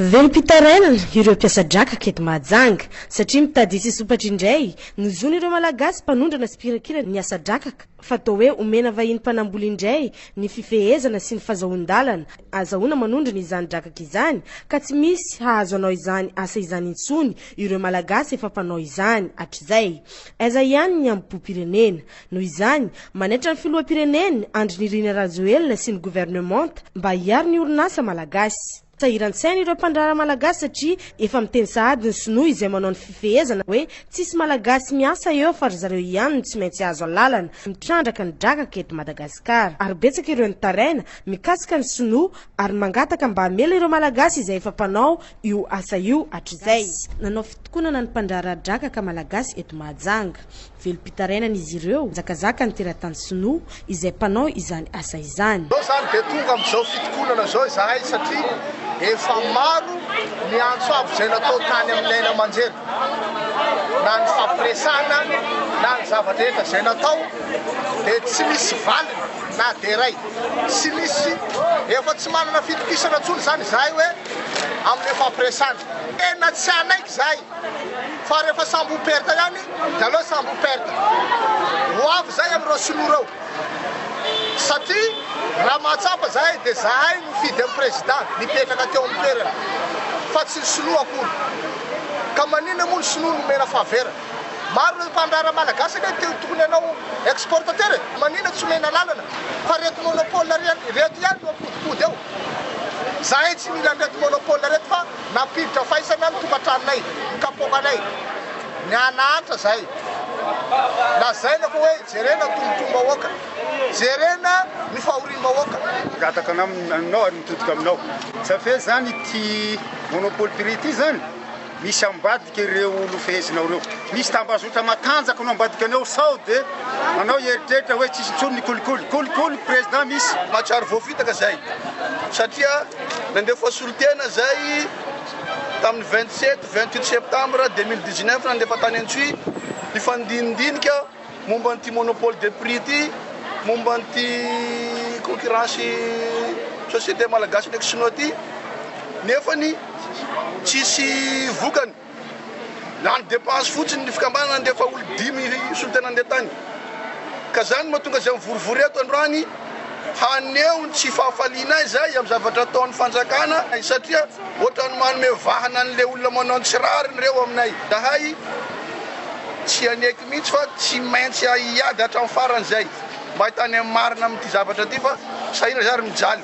Velom-pitarainana ireo mpiasa drakaka eto Mahajanga, satria mitady hisy sompatra indray ny zon'ireo Malagasy mpanondrana sy mpirakira ny asa drakaka, fa toa hoe omena vahiny mpanambola indray ny fifehezana sy ny fazahoan-dalana azahoana manondrana izany drakaka izany, ka tsy misy hahazo hanao izany asa izany intsony ireo Malagasy efa mpanao izany hatrizay. Aiza ihany ny hambom-pirenena? Noho izany, manaitra ny Filoham-pirenena, Andry Nirina Rajoelina sy ny Governemanta mba hiaro ny orinasa malagasy. Sahiran-tsaina ireo mpandraharaha malagasy satria efa miteny sahady ny sinoa izay manao ny fifehezana hoe tsisy malagasy miasa eo fa ry zareo ihany no tsy maintsy azo alalana mitrandraka ny drakaka eto Madagasikara ary betsaka ireo nitaraina mikasika ny sinoa ary mangataka mba hamela ireo malagasy izay efa mpanao io asa io hatrizay. Nanao fitokonana ny mpandraharaha drakaka malagasy eto Mahajanga. Velom-pitarainana izy ireo, mizakazaka ny teratany sinoa izay mpanao izany asa izany. Izao izany dia tonga amin'izao fitokonana izao izahay satria efa maro ny antso avo izay natao tany amin'ny aina aman-jery, na ny fampiresahana na ny zava-drehetra izay natao dia tsy misy valiny na dia iray. Tsy misy, efa tsy manana fitokisana intsony izany izahay hoe amin'ny fampiresahana. Tena tsy hanaiky izahay Fa rehefa sambo ho perte ihany de aleo sambo ho perte. Ho avy zay amin'ireo sinoa reo. Satria raha mahatsapa zahay de zahay no fidy an'i president nipetraka teo amin'ny toerana fa tsy ny sinoa akory. Ka maninona moa ny sinoa nomena faveur. Maro ireo mpandraharaha malagasy anie te ho tokony hanao exportateur e. Maninona tsy omena lalana fa reto monopole reto ihany no ampodimpody eo. Zahay tsy mila an'ireto monopole reto fa. Nampiditra faisana ny tokantranonay, ny kapoakanay, ny hahanahatra zahay. Lazaina fa hoe jerena tombontsoam-bahoaka, jerena ny fahoriam-bahoaka. Migataka anao aminao ary mitodika aminao. Sa ve zany ity Monopoly Prix ity zany misy ambadika ireo nofehezinao ireo? Misy tambazotra matanjaka no ambadika anao sao de anao hieritreritra hoe tsisy intsony ny kolikoly. Kolikoly Président misy. Mahatsiaro voafitaka zahay satria. Nandefa solontena izay tamin'ny vingt sept, vingt huit septembre deux mille dix neuf nandefa tany Antsohihy ny fandinidinika momba an'ity monopole de prix ity, momba an'ity concurrence société malagasy ndraiky sinoa ity nefany tsisy vokany. Lany depense fotsiny ny fikambanana ndeha fa olo dimy hisolo tena ndeha tany ka zany no mahatonga zay mivorivory eto androany haneho ny tsy fahafalianay zay am zavatra ataony fanjakana satria otrany manome vahana anle olona manao ny tsy rariny reo aminay zahay tsy haneky mitsy fa tsy maintsy ahiady hatram farany zay mba hitany am marina am ty zavatra ty fa sahirana zay ary mijaly.